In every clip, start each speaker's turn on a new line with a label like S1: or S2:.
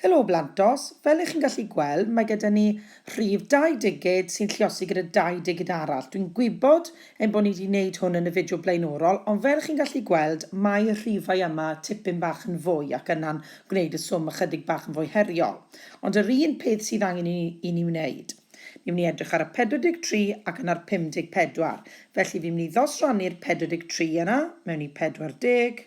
S1: Helo Blantos, fel y'ch chi'n gallu gweld mae gyda ni rhif dau digid sy'n lliosi gyda dau digid arall. Dwi'n gwybod ein bod ni 'di 'neud hwn yn y fideo blaenorol ond fel chi'n gallu gweld mae y rhifau yma tipyn bach yn fwy ac yna'n gwneud y swm ychydig bach yn fwy heriol. Ond yr un peth sydd angen i i ni wneud. Ni'n mynd i edrych ar y 43 ac yna'r 54. Felly fi'n mynd i ddosrannu'r 43 yna mewn i 40.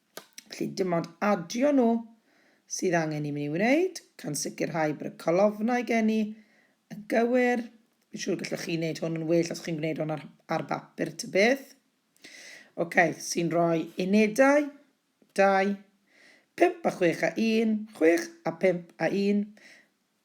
S1: Felly, dim ond adio nhw sydd angen i mi wneud, gan sicrhau bod y colofnau gen i yn gywir. Fi'n siŵr gallwch chi wneud hwn yn well os chi'n gwneud hwn ar, ar bapur ta beth. Oce, okay, sy'n rhoi unedau, 2, 5 a 6 a 1, 6 a 5 a 1.